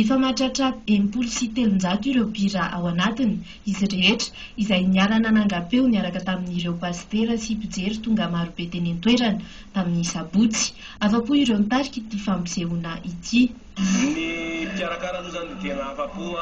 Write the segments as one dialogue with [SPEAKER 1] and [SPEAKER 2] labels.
[SPEAKER 1] Efa mahatratra enimpolo sy telonjato ireo mpihira ao anatiny, izy rehetra, izay niara-nanangam-peo niaraka tamin'ireo pasitera sy mpijery tonga marobe teny an-toerana, tamin'ny sabotsy. Afa-po ireo nitarika ity fampisehoana ity. Ny
[SPEAKER 2] mpikarakara aloha izany dia tena afa-po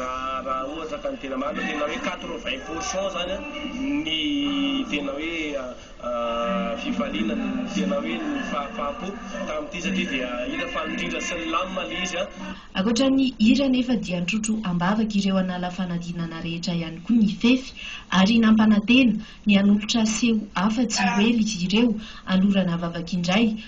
[SPEAKER 2] raha ohatra ka ny tena marina, tena hoe quatre-vingts pour cent izany ny tena hoe. fifaliana tena hoe ny fahafaham-po tamin'ity satria dia hira faly indrindra sy nilamina ilay izy an! Ankoatra ny
[SPEAKER 1] hira anefa dia nitrotro ambavaka ireo an'ala fanadinana rehetra ihany koa ny fefy ary nampanantena ny hanolotra seho hafa tsy ho ela izy ireo hanorana vavaka indray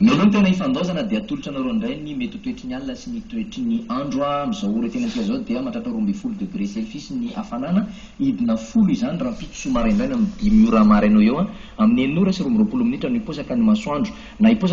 [SPEAKER 3] Mialohan'ny taona hifandaozana dia atolotra anareo indray ny mety ho toetry ny alina sy ny toetry ny andro. Amin'izao ora teny amintsika izao dia mahatratra roa ambin'ny folo degre selfis ny hafanana, hidina folo izany rahampitso maraindraina amin'ny dimy ora maraina eo ho eo, amin'ny enina ora sy roa amby roapolo minitra no hiposaka ny masoandro. Na hiposaka.